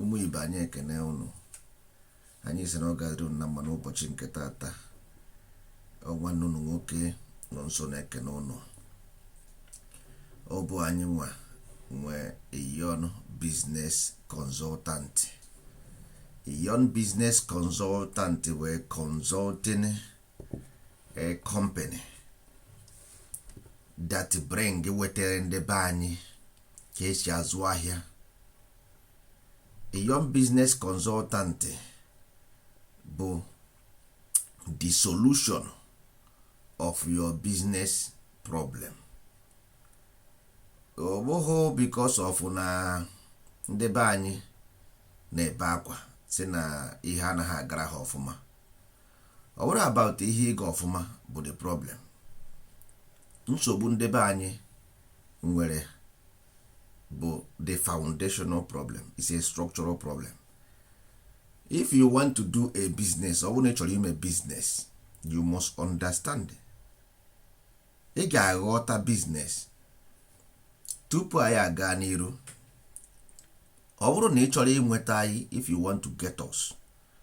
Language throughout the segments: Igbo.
ụmụ ibe anyị ekene ụnụ anyị si na ọ ga-adịrị ụnụ na mma n'ụbọchị nke taata ọ nwanne ụnụ nwoke nọ nso na-ekene ụnụ ọ bụ anyịnwa nwe Iyon Business Consultant Iyon Business Consultant wụ a consulting a company that bring wetere ndị be anyị ka e si azụ ahịa Iyon business consultant bụ the solution of your business problem ọ bụghị because of na ndị be anyị na-ebe akwa si na ihe anaghị agara ha ọfụma ọ bụrụ about ihe ịga ọfụma bụ the problem nsogbu ndị be anyị nwere bụ the foundational problem is a structural problem if you want to do a business ọ bụrụ na ị chọrọ ime business you must understand ị ga-aghọta business tupu anyị agaa n'iru ọ bụrụ na ị chọrọ inweta anyị if you want to get us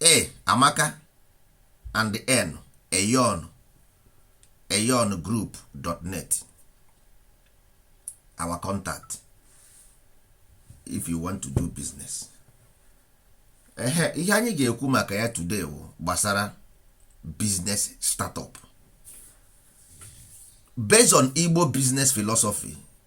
a amaka and n eyon eyon group dot net our contact if you want to do business ehe ihe anyị ga-ekwu maka ya today wụ gbasara business startup based on igbo business philosophy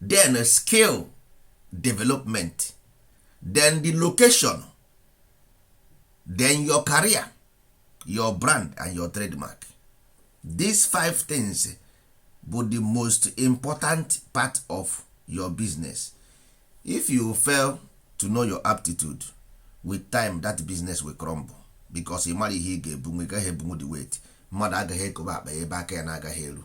then skill development then the location then your career your brand and your trademark these five things bụ the most important part of your business if you fail to know your aptitude with time that business will crumble because ị mara ihe ị ga-ebunwu ị gaghị ebunwu the weight mmadụ agaghị ekobe akpa ebe aka ya na-agaghị eru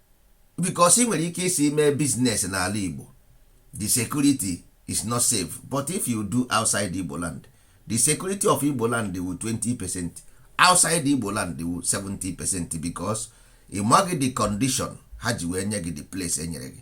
because ị nwere ike ịsị i mee business n'ala Igbo the security is not safe but if you do outside Igbo land the security of Igbo land wụ 20 percent outside Igbo land wụ 70 percent because ị maghị the condition ha ji wee nye gị the place e nyere gị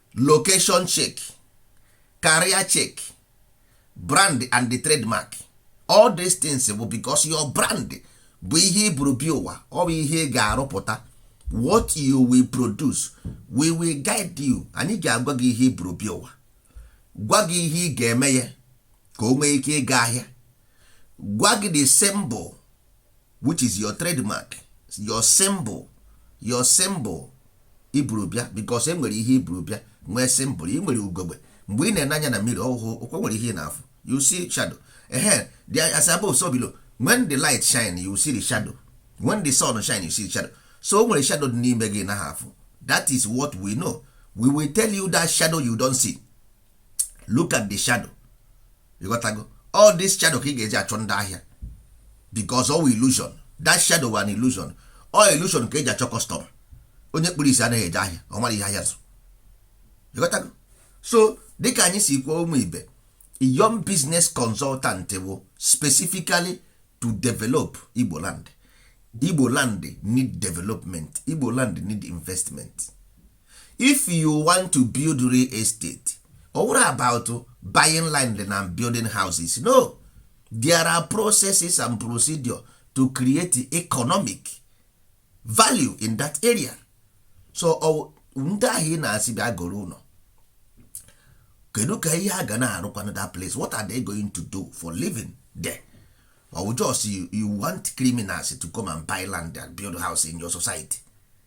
location check career check brand and the trademark all these things bụ because your brand bụ ihe i buru bịa ụwa ọ bụ ihe ị ga-arụpụta what you will produce we will guide you anyị ga-agwa gị ihe i buru bịa ụwa gwa gị ihe ị ga-eme ya ka o nwee ike ịga ahịa gwa gị the symbol which is your trademark your symbol i buru bịa because e nwere ihe i buru bịa nwee symbol ị nwere ugogbe mgbe ị na-ene anya na mmiri ọhụhụ ọkwa e nwere ihe ị na-afụ you see shadow ehe the as above so below when the light shine you see the shadow when the sun shine you see the shadow so o nwere shadow dị n'ime gị na ha afụ that is what we know we will tell you that shadow you don't see look at the shadow ị ghọtago all this shadow ka ị ga-eji achọ ndị ahịa because all illusion that shadow was an illusion all illusion ka e ji achọ custom onye kpuru isi anaghị eje ahịa ọ mara ihe ahịa zụ ị ghọtago so dịka anyị si kwuo ụmụ ibe young business consultant bụ specifically to develop Igbo land Igbo land need development Igbo land need investment if you want to build real estate ọ wụrụ about buying land na building houses no there are processes and procedure to create economic value in that area so ndị ahụ ị na-asị bịa goro ụlọ kedu ka ihe a ga na-arụkwana that place what are they going to do for living there or just you, you want criminals to come and buy land and build house in your society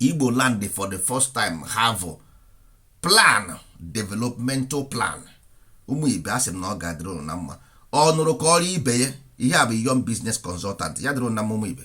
igbo land for the first time have plan developmental plan ụmụ ibe a sị m na ọ ga-adịrị ụnụ na mma ọ nụrụ kọọrọ ibe ya ihe a bụ young business consultant ya dịrị ụnụ na mma ụmụ ibe